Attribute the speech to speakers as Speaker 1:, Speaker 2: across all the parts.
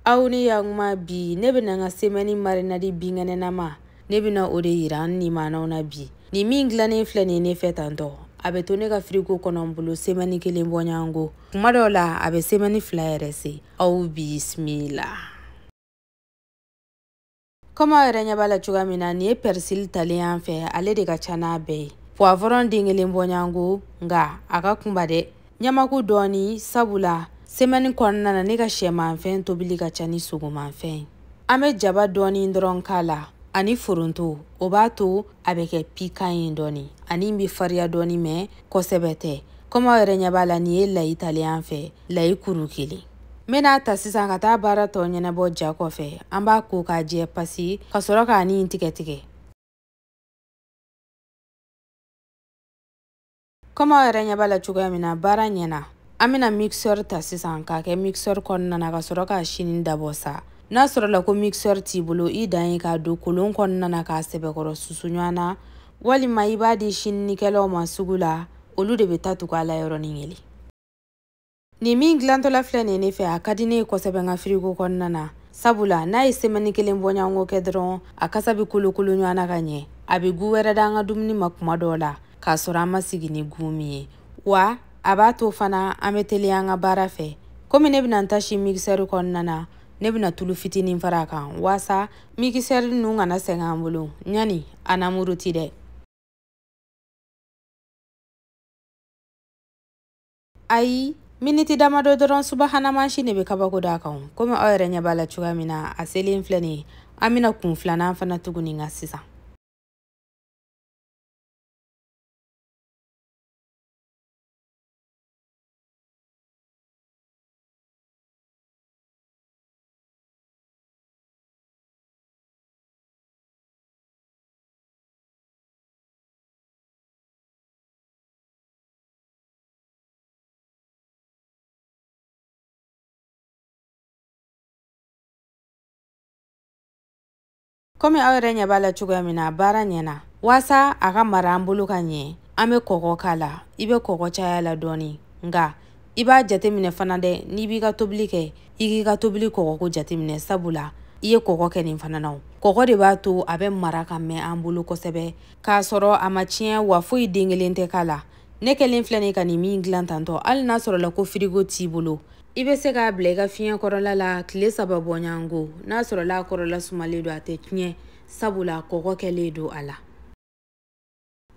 Speaker 1: aw ni yakuma bi ne bɛna n ka semɛni marinadi binkɛnɛnama ne bɛna o de yira n nimanaw na bi nin min dilannen filɛ nin ye ne fɛ tantɔ a bɛ to ne ka firiko kɔnɔ n bolo semɛni kelen bɔɲɔgɔnko kuma dɔw la a bɛ semɛni fila yɛrɛ se aw bisimila kɔmi aw yɛrɛ ɲɛ b'a la cogoya min na nin ye pɛrisili talen y'an fɛ ale de ka ca n'a bɛɛ ye puwavɔrɔn den kelen bɔɲɔgɔnko nka a ka kunba dɛ ɲamaku dɔɔni sabula semɛni kɔnɔna na ne ka shɛmanfɛn tobili ka ca ni sogomanfɛn ye an bɛ jaba dɔɔni dɔrɔn k'a la ani foronto o b'a to a bɛ kɛ pikan ye dɔɔni ani bɛ fariya dɔɔni mɛ kosɛbɛ tɛ kɔmi aw yɛrɛ ɲɛ b'a la nin ye layi talen y'an fɛ layi kuru kelen n bɛn'a ta sisan ka taa baara tɔ ɲɛnabɔ ja kɔfɛ an b'a ko k'a jɛ pasi ka sɔrɔ k'a nin tigɛ tigɛ kɔmi aw yɛrɛ ɲɛ b'a la cogoya min na baara ɲɛna an bɛna mixeur ta sisan k'a kɛ mixeur kɔnɔna na ka sɔrɔ k'a sini dabɔ sa n'a sɔrɔla ko mixeur t'i bolo i dan ye k'a don kolon kɔnɔna na k'a sɛbɛkɔrɔ susu ɲɔgɔn na walima i b'a di sininikɛlaw ma sugu la olu de bɛ taa tugu a la yɔrɔnin kelen nin min dilantɔla filɛ nin ye ne fɛ a ka di ne ye kosɛbɛ n ka firigo kɔnɔna na sabula n'a ye semɛni kelen bɔɲɔgɔnko kɛ dɔrɔn a kasa bɛ kolokolo ɲɔgɔn na ka ɲɛ a bɛ gu wɛrɛ da an ka dumuni ma kuma dɔw la k'a sɔrɔ an ma sigi ni gu min ye wa a b'a to fana an bɛ teliya an ka baara fɛ komi ne bɛna n ta si mikisɛri kɔnɔna na ne bɛna tulu fitinin fara a kan waasa mikisɛri ninnu kana sɛgɛn an bolo ɲani a na muruti dɛ ayi miniti damadɔ dɔrɔn subahana mansin de bɛ kabako d'a kan komi aw yɛrɛ ɲɛ b'a la cogoya min na a selen filɛ nin ye an bɛna kun filanan fana tugu nin kan sisan komi aw yɛrɛ ɲɛ b'a la cogoya min na baara ɲɛna waasa a ka mara an bolo ka ɲɛ an bɛ kɔgɔ k'a la i bɛ kɔgɔ caya a la dɔɔni nka i b'a jateminɛ fana dɛ n'i b'i ka tobili kɛ i k'i ka tobili kɔgɔko jateminɛ sabula i ye kɔgɔ kɛ nin fana na o kɔgɔ de b'a to a bɛ mara ka mɛn an bolo kosɛbɛ k'a sɔrɔ a ma tiɲɛ wa foyi den kelen tɛ k'a la ne kɛlen filɛ nin ka nin min dilan tantɔ hali n'a sɔrɔla ko firigo t'i bolo i bɛ se k'a bila i ka fiɲɛ kɔrɔla la tile saba bɔɲɔgɔnko n'a sɔrɔla a kɔrɔla sumalen don a tɛ tiɲɛ sabula kɔgɔ kɛlen don a la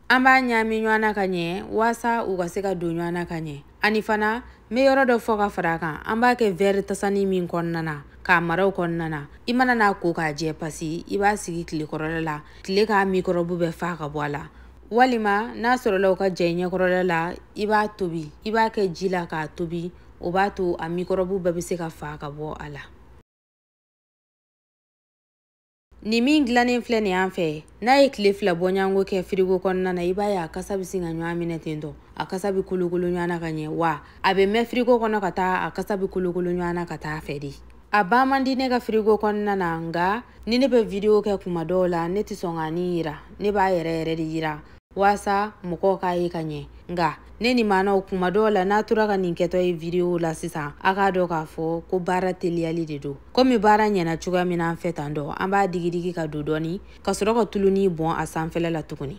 Speaker 1: an b'a ɲaami ɲɔgɔn na ka ɲɛ waasa u ka se ka don ɲɔgɔn na ka ɲɛ ani fana n bɛ yɔrɔ dɔ fɔ ka fara a kan an b'a kɛ vɛri tasani min kɔnɔna na k'a mara o kɔnɔna na i mana n'a ko k'a jɛ pasi i b'a sigi tile kɔrɔla la tile k'a mikɔrɔbu bɛɛ faga ka bɔ a la walima n'a sɔrɔla o ka jan i ɲɛkɔrɔla la i b'a tobi i b'a kɛ ji la k'a tobi o b'a to a mikɔrɔbu bɛɛ bɛ se ka faga ka bɔ a la nin min dilannen filɛ nin an fɛ n'a ye tile fila bɔɲɔgɔnko kɛ firigo kɔnɔna na i b'a ye a kasa bɛ sin ka ɲɔgɔn minɛ ten tɔ a kasa bɛ kolokolo ɲɔgɔn na ka ɲɛ wa a bɛ mɛn firigo kɔnɔ ka taa a kasa bɛ kolokolo ɲɔgɔn na ka taa a fɛ de a ban man di ne ka firigo kɔnɔna na nka ni ne bɛ vidiyo kɛ kuma dɔw la ne tɛ sɔn ka nin yira ne b'a yɛrɛ yɛrɛ de yira waasa mɔgɔw k'a ye ka ɲɛ nka ne ni maanaw kuma dɔw la n'a tora ka nin kɛtɔ ye vidiyo la sisan a k'a dɔn k'a fɔ ko baara teliyali de don komi baara ɲɛna cogoya min na an fɛ tan dɔ an b'a digidigi ka don dɔɔni ka sɔrɔ ka tuluni bɔn a sanfɛla la tuguni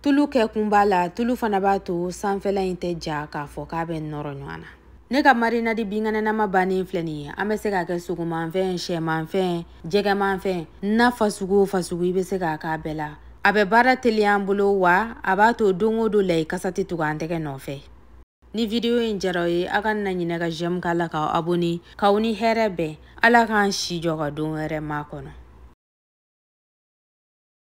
Speaker 1: tulu kɛ kun b'a la tulu fana b'a to sanfɛla in tɛ ja k'a fɔ k'a bɛ nɔrɔ ɲɔgɔn na ne ka marinadi binkɛnɛnama bannen filɛ nin ye an bɛ se k'a kɛ sogomanfɛn sɛmanfɛn jɛgɛmanfɛn na fasugu o fasugu i bɛ se k'a k'a bɛɛ la a bɛ baara teliya an bolo wa a b'a to don o don layi kasa tɛ tugu an tɛgɛ nɔfɛ ni vidiyo in diyara aw ye aw kana ɲinɛ ka jɛmu k'a la k'aw abone k'aw ni hɛrɛ bɛn ala k'an si jɔ ka don wɛrɛ makɔnɔ